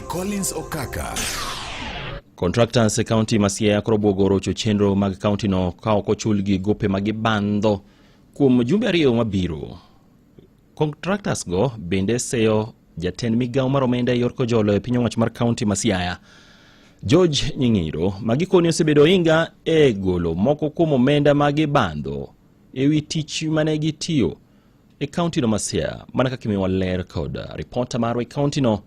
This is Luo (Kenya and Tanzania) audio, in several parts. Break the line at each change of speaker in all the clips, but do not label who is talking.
Collins Okaka.
Contractors e kaunti ma Siaya koro obwogo rocho chenro mag kauntino ka ok ochulgi gope ma gibandho kuom jumbe ariyo mabiro. Contractors go bende seyo jatend migawo mar omenda e yor kojolo e piny owacho mar kaunti ma Siaya George Nying'iro ma gikoni osebedo ohinga e golo moko kuom omenda ma gibandho e wi tich mane gitiyo e kaunti no Masia mana kaka imiwa ler kod ripota marwa e kaunti no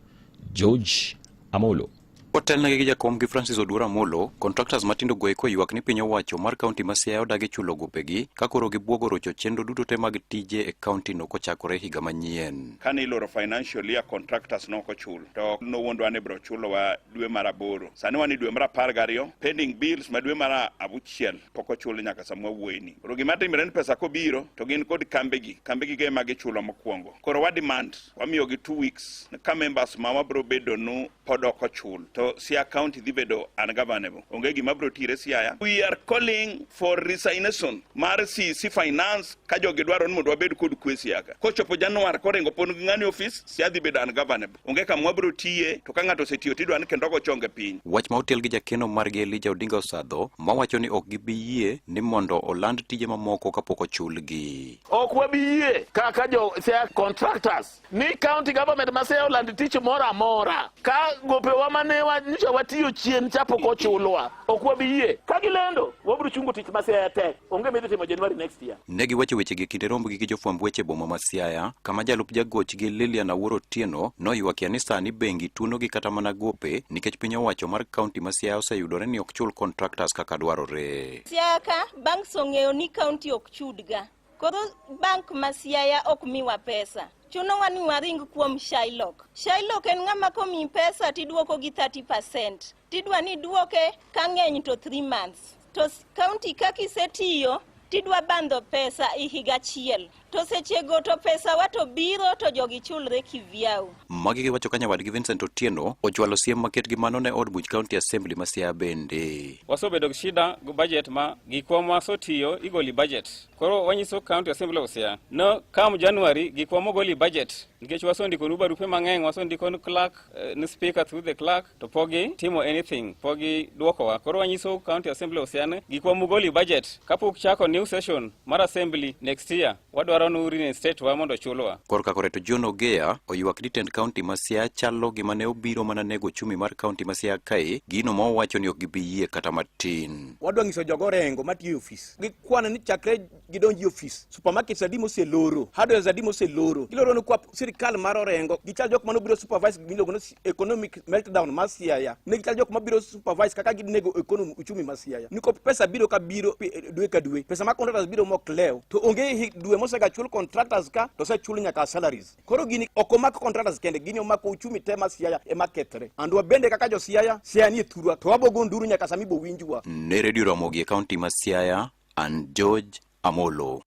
George Amolo. Otelnegi gi
jakom gi Francis Oduora Molo, contractors matindo go eko ywak ni piny owacho mar kaunti ma Siaya odagi chulo gopegi ka koro gibwogo rocho chenro duto te mag tije e kaunti no kochakore higa manyien. Kane iloro financial
year contractors no okochulo to nowuondwa ni biro chulowa dwe mar aboro. Sani wan e dwe mar apar gariyo, pending bills ma dwe mar abuchiel pok ochul nyaka sama wawuoyini. Koro gima timre ni pesa kobiro to gin kod kambegi, kambegi ge ma gichulo mokwongo. Koro wa demand wamiyogi two weeks ka members ma wabiro bedonu pod ok ochul to Siaya County dhi bedo ungovernable. Onge gima biro tire Siaya. We are calling for resignation mar CC Finance ka jogi dwaro ni mondo wabed kod kwe Siaya ka. Kochopo Januar koringo pon gi ng'ani office, Siaya dhi bedo ungovernable. onge kama wabiro tiye to ka ng'ato osetiyo to idwa ni kendo ogo chonge piny. Wach ma otel gi jakeno
margi Elija Odinga Osadho mawacho ni ok gibi yie ni mondo oland tije mamoko kapok ochulgi. Ok wabi yie
kaka jo sea contractors ni county government ma sea oland tich moro amora ka gopewa ma ne wanyiso watiyo chien cha pok ochulwa. Ok wabi yie ka gilendo wabiro chungo tich ma sea tek. Onge midhi timo January next year. Ne giwacho wechegi e kinde
rombgi gi jofwamb weche boma ma Siaya, kama jalup jagochgi Lilian Awuoro Otieno noywakia ni sani bengi tuonogi kata mana gope nikech piny owacho mar kaunti ma Siaya oseyudore ni ok chul contractors kaka dwarore. Siaya ka
banks ong'eyo ni kaunti ok chudga, koro bank ma Siaya ok miwa pesa chunowa ni waring kuom Shylock. Shylock en ng'ama komi pesa tidwoko gi 30%. Tidwa ni duoke ka ng'eny to 3 months. To kaunti kaka isetiyo tidwa bandho pesa i higa achiel to sechego to pesawa to biro to jogi chulre kivyau. Magi giwacho ka
nyawadgi Vincent Otieno ochwalo siem maket gi mano ne od buch County Assembly ma Siaya bende. Wasebedo gi shida
gi budget ma gikwa ma sotiyo igoli budget. Koro wanyiso County Assembly of Siaya no kam January gikwa mogoli budget nikech wasondikonu barupe mang'eny wasondikonu clerk eh, ni speaker through the clerk to pok gitimo anything, pok gidwokowa. Koro wanyiso County Assembly osian gik wa mugoli budget kapok chako new session mar Assembly next year wadwaro nu reinstate wa mondo chulwa. Korka koreto John
Ogeya oywak ni tend county ma Siaya chalo gima ne obiro mana nego chumi mar county ma Siaya kae gino ma owacho ni ok gibi yie kata matin. Wadwa nyiso jogo
rengo matiyo e ofis gikwane ni chakre gidonji ofis supermarkets adi moseloro hardwares adi moseloro giloro ni kwa sirikal mar orengo gichal jok mano biro supervise miluongo ni economic meltdown mar siaya ne gichal jok mabiro supervise kaka ginego economy uchumi mar siaya niko pesa biro ka biro eh, dwe ka dwe pesa ma contractors biro mok lew to onge dwe mosegachul contractors ka to osechul nyaka salaries Koro gini ok omako contractors kende, gini omako uchumi te ma Siaya ema kethre. And wabende kaka jo Siaya, Siaya nie thurwa to wabogo nduru nyaka sami bowinjwa. Ne Radio Ramogi e
kaunti ma Siaya, and George Amolo.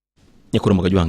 Nyakuro Magajwangi.